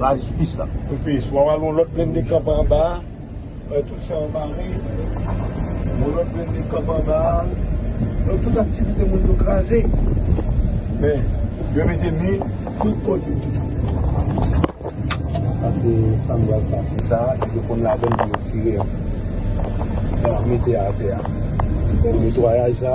la jistis la. Tupis wap al yon lot blende kanpe anba a bay tout sa anba a wi yon lot blende kanpe anba a non tout aktivite moun yo kraze men yo mete mi tout kote sa se sam bal pase sa yo konn ladann pou yo tire an mete atè a netwayaj sa.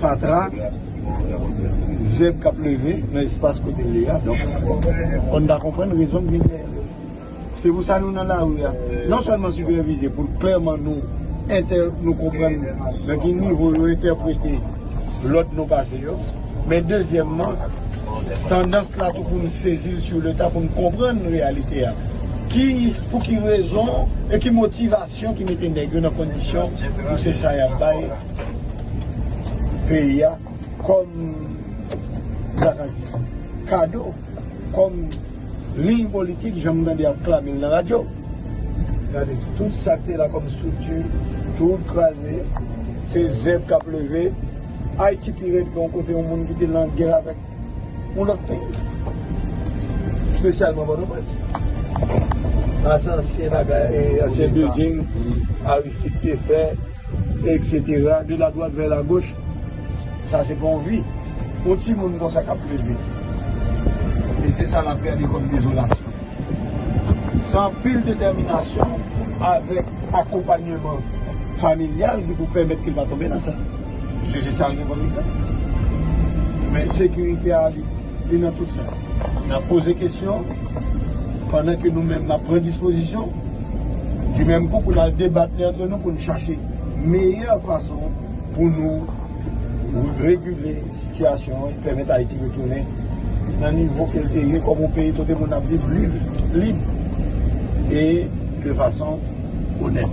fatra, zèb k ap leve nan espas kote l ye a. Donk, fò n ta konprann rezon ki gen dèyè l. Se pou sa nou nan lari a, non sèlman sipèvize pou klèman nou entè, nou konprann nan ki nivo yo entèprete lòd nou pase yo. Men dezyèmman, tandans la tou pou n sezi l sou leta, pou n konprann reyalite a. Ki, pou ki rezon e ki motivasyon ki mete nèg yo nan kondisyon pou se sa y ap bay. peyi a kòm sa ka di kado kòm liy politik jan m tande y ap klame l nan radyo gade tout sa k te la kòm estrikti tout kraze se zèb k ap leve ayiti pi rèd ke yon kote yon moun ki te nan gè avèk yon lòt peyi espesyalman pòtoprens sa se ansyen bagay ansyen bilding aristid te fè Etc de la droite vers la gauche sa se pa yon vi yon timoun konsa kap leve e se sa lap gade kom dezolasyon se anpil detèminasyon avek akonpanyeman familyal ki pou pèmèt ke l pa tonbe nan sa paske se sa l gen kom egzanp men ensekirite a li nan tout sa nap poze kesyon pandan ke nou menm nap pran dispozisyon. di menm kou pou n al debat li antre nou pou n chache meyè fason pou nou regile sitiyasyon an e pèmèt Ayiti retounen nan nivo ke l te ye kòm yon peyi kote moun ap viv lib, lib e de fason onèt.